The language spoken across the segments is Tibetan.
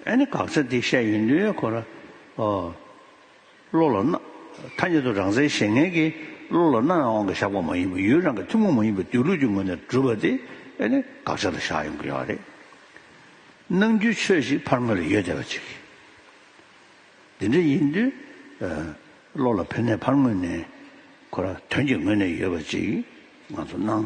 ཨ་ནི་དགག་བྱ་འདི་བཤད་ཡིན་དུས་ཁོ་ར་ཨོ། བློ་ལ་སྣ། ཐ་སྙད་དུ་རང་སའི་བཞེད་ངན་གྱིས་བློ་ལ་སྣ་ཡང་དབང་གིས་བཞག་པ་མ་ཡིན་པར་ཡུལ་རང་གི་ཐུན་མོང་མ་ཡིན་པའི་སྡོད་ལུགས་ཀྱི་ངོས་ནས་བསྒྲུབས་པ་དེ་ཨ་ནི་དགག་བྱ་ལ་བཞག་ཡོང་གི་ཡོད་རེད། ནང་རྒྱུའི་ཆོས་ཤིག་ཕར་ངོས་ལ་ཡོད་བསྡད་པ་ཅིག། འདི་འདྲ་ཡིན་དུས། བློ་ལ་ཕན་ནས་ཕར་ངོས་ནས་ཁོ་ར་དོན་གྱི་ངོས་ནས་ཡོད་པ་ཅིག་ང་ཚོར་སྣང།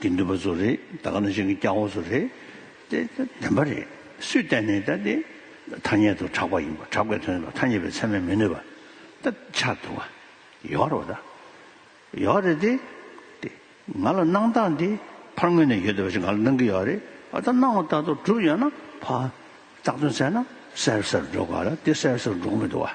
གི་འདུས་པ་ཚོ་རེད་ད་ག་ནང་བཞིན་གྱི་སྐྱ་བོ་ཚོ་རེད་དེ་བདེན་པ་རེད་སུས་བལྟས་ནས་ད་དེ་ཐ་སྙད་དུ་གྲགས་པ་ཡིན་པ་གྲགས་པའི་དོན་ལ་ཐ་སྙད་པའི་ཚད་མས་མི་གནོད་པ་ད་ཆ་དུ་བ་ཡོད་རོ་ད་ཡོད་རེད་དེ་དེ་ང་ལ་གནང་སྟངས་དེ་ཕར་ངོས་ནས་ཡོད་དེ་བ་ཞིག་ང་ལ་གནང་གི་ཡོད་རེད་ཨ་ད་གནང་བ་ལྟ་དུ་གྲུབ་ཡོད་ན་ཕ་རྟགས་དོན་གསལ་ན་གསལ་གསལ་འགྲོ་དགོས་ལ་དེ་གསལ་གསལ་འགྲོ་གི་མི་འདུག་བ།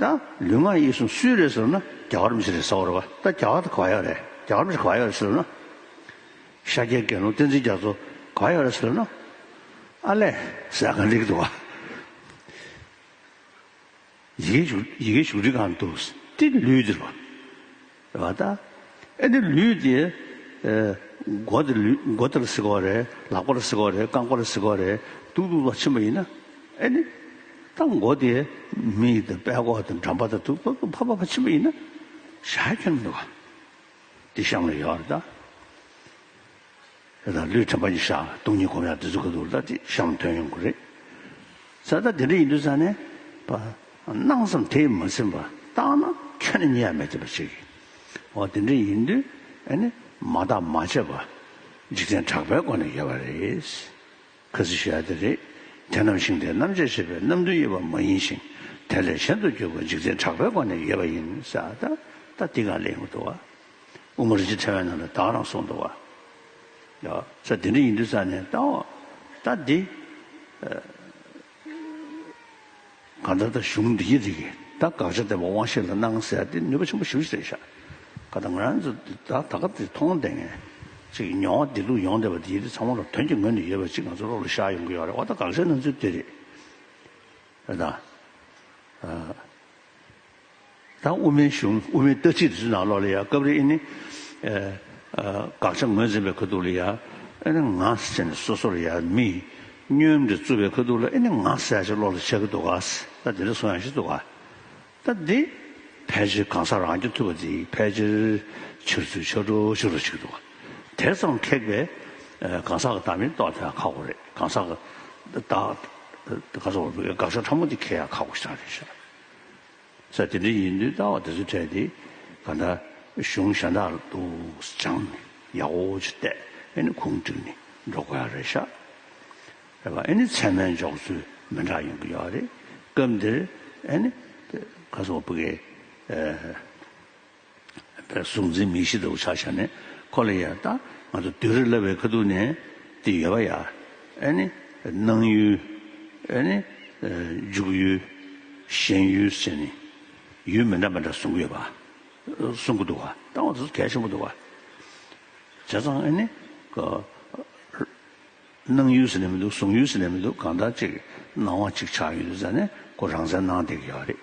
ད་ལུས་ངག་ཡིད་གསུམ་སུའི་རེད་ཟེར་ན་རྒྱ་གར་མི་ཞིག་རེད་ཟེར་བ་རེད་བ་ད་རྒྱ་གར་དུ་ག་ཡག་རེད་རྒྱ་གར་མི་ཞིག་ག་ཡག་རེད་ཟེར་ན། ཤཱཀྱའི་དགེ་སློང་བསྟན་འཛིན་རྒྱ་མཚོ་ག་ཡག་རེད་ཟེར་ན། ཨ་ལས་ཟེར་གང་རིགས་འདུག་བ། ཡི་གེ་བཞུགས་ཡི་གེ་བཞུགས་རིགས་གང་རིགས་འདུག་ཏི་ལུས་འདིར་བ། བ་ལྟ། ཨེ་ནི་ལུས་འདི། མགོ་འདི་ལུས་མགོ་འདིར་གཟིགས་པ་རེད། ལག་པར་གཟིགས་པ་རེད་རྐང་པར་གཟིགས་པ་རེད། སྡུག་སྡུག་ལ་ཕྱིན་པ་ཡིན་ན། ཨེ་ནི། ད་མགོ་འདི། མི་ཡི་དང་པད་ཀོག་དང་འགྲམ་པ་དང་དུག་ཏོག་དུག་ཕ་ཕ་ཕ་ཕྱིན་པ་ཡིན་ན། ཞག་ཁྱོད་ནི་བ། འདི་བཤམས་ལ་ཡོད་བ་ལྟ། དེ་དང་ལུས་དྲན་པ་ཡིས་ཤ་དུག་གཉིས་གོམས་ཡང་དེ་ཚོ་ག་དུག་ལ་དེ་བཤམས་དོན་ཡོང་གི་རེད། ས་ད་དེ་འདྲ་ཡིན་དུས་ས་ནས་པ་སྣང་སམ་དེས་མ་ཚིམས་པ་བརྟགས་ན་ཁྱོད་ནི་མྱི་ཡ་མེད་ཐེབས་པ་ཞིག་ཡིན། འོ་དེ་འདྲ་ཡིན་དུས་ཨེ་ནི་མ་བརྟག་མ་དཔྱད་པ་འཇིག་རྟེན་གྲགས་པའི་སྒོ་ནས་ཡལ་བ་རེད། ཁ་ཚིག་ཤ་དེ་རེད། དེ་ནམ་ཞིང་དེ་རྣམ་དཔྱད་བྱེད་པའི་རྣམ་འདུན་དབྱེ་བ་མ་ཡིན་ཞིང་དེ་ལས་གཞན་དུ་གྱུར་པ་འཇིག་རྟེན་གྲགས་པའི་སྒོ་ནས་ཡལ་བ་ཡིན་ས་ད་ད་འདི་གང་ལས་ཡོང་གི་འདུག་བ། དབུ་མ་རིན་ཆེན་ཕྲེང་བའི་ནང་དུ་བདག་རང་གསུངས་འདུག་བ། ཡ། ས་འདི་འདྲ་ཡིན་དུས་ས་ནས་ལྟ་འོ། ལྟ་འདི། གང་ལྟར་ད་གཞུང་འདི་ཡི་རིགས་ད་དགག་བྱ་དེ་བ་དབང་ཤེས་ལ་གནང་ཟེར་དེ་ནུས་པ་ཆེན་པོ་ཞུ་ཞེས་ཤ་ཀ་ད་ང་རང་ཚོ་འདི་ད་ད་ག་དེ་མཐོང་བདེ་ངན་ཅིག་མྱོང་བ་དེ་ལུགས་ཡོང་བདེ་བ་དེ་ཡི་རིགས་ཚང་མ་ལ་དོན་གྱི་ངོས་ནས་ཡོད་པ་ཅིག་ང་ཚོ་བློ་ལ་ཤར་ཡོང་གི་ཡོད་རེད་བ་ད་དགག་བྱ་ནང་ཚུལ་དེ་རེད། རེད་ད། དང་དབུ་མའི་གཞུང་དབུ་མའི་ལྟ་ཚིག་དེ་ཚོའི་ནང་ལོགས་ལ་ཡང་སྐབས་རེ་ཨེ་ནི། དགག་བྱ་ངོས་འཛིན་པའི་ཁ་ཐུག་ལ་ཡང་ཨེ་ནི་ང་ཟེར་ནས་སོ་སོར་ཡང་མི། སྙོན་འདི་རྩུབ་པའི་ཁ་ཐུག་ལ་ཨེ་ནི་ང་ཟེར་ཡག་ཅིག་ལོགས་ལ་ཆགས་ཀྱི་འདུག་གཱ། ད་དེ་འདྲ་སོང་ཡག་ཤི་འདུག་གཱ། ད་འདི། ཕལ་ཆེར་གང་ཟག་རང་སྐྱོན་ཐུབ་པ་འདི་ཕལ་ཆེར། ཕྱིར་ཚུར་ཕྱོགས་བྲོ་ཞིག་རོ་ཆགས་ཀྱི་འདུག་གཱ། དེ་ཙམ་ཁེགས་པའི། གང་ཟག་གི་བདག་མེད་རྟོགས་དེ་ཡང་ཁག་པོ་རེད་གང་ཟག་གི། བདག། དགག་བྱ་ཕྲ་མོ་འདི་ཁེགས་ཡང་ཁག་པོ་ཞིག་ཀྱང་རེད། ས་དེ་འདྲ་ཡིན་དུས་ལྟ་བ་དེ་ཚོ་ཕྲལ་ཏེ་ག་འདྲ་གཞུང་ཞྭ་འདྲ་འདུག་སྦྱངས་ནས་ཡག་འོ་ཅི་བལྟས་ཨེ་ནི་ཁུངས་དཀྲིགས་ནས་འགྲོ་དགོས་ཡ་རེད་ཤག་རེད་པ་ཨེ་ནི་ཚད་མའི་འཇོག་ཚུལ་མི་འདྲ་ཡོང་གི་ཡོད་རེད་སྐབས་འདིར་ཨེ་ནི་ག་སོ་བ་པུ་གའི། པའི་གཟུགས་འཛིན་མི་ཤེས་དོགས་བྱ་བྱ་ནས་ཁོ་ལ་ཡང་ལྟ། ང་ཚོ་བདུད་རི་བསླབ་པའི་ཁ་ཐུག་ནས་དེ་ཡོད་པ་ཡ། ཨེ་ནི། སྣང་ཡུལ། ཨེ་ནི། འཇུག་ཡུལ། ཞེན་ཡུལ་བཅས་ནི། ཡུལ་མི་འདྲ་མི་འདྲ་གསུང་གི་ཡོད་པ། གསུང་གི་འདུག་བ། ལྟ་བ་དེ་ཚོ་གལ་ཆེན་པོ་འདུག་བ། བྱས་ཙང་ཨེ་ནི། སྣང་ཡུལ་ཟེར་ནས་མི་འདུག་གསུང་ཡུལ་ཟེར་ནས་མི་འདུག་གང་ལྟར་ཅིག་སྣང་བ་ཅིག་ཆགས་ཡོད་དུས་ཙང་ནས་ཁོ་རང་སའི་སྣང་སྟེགས་ཡོད་རེད།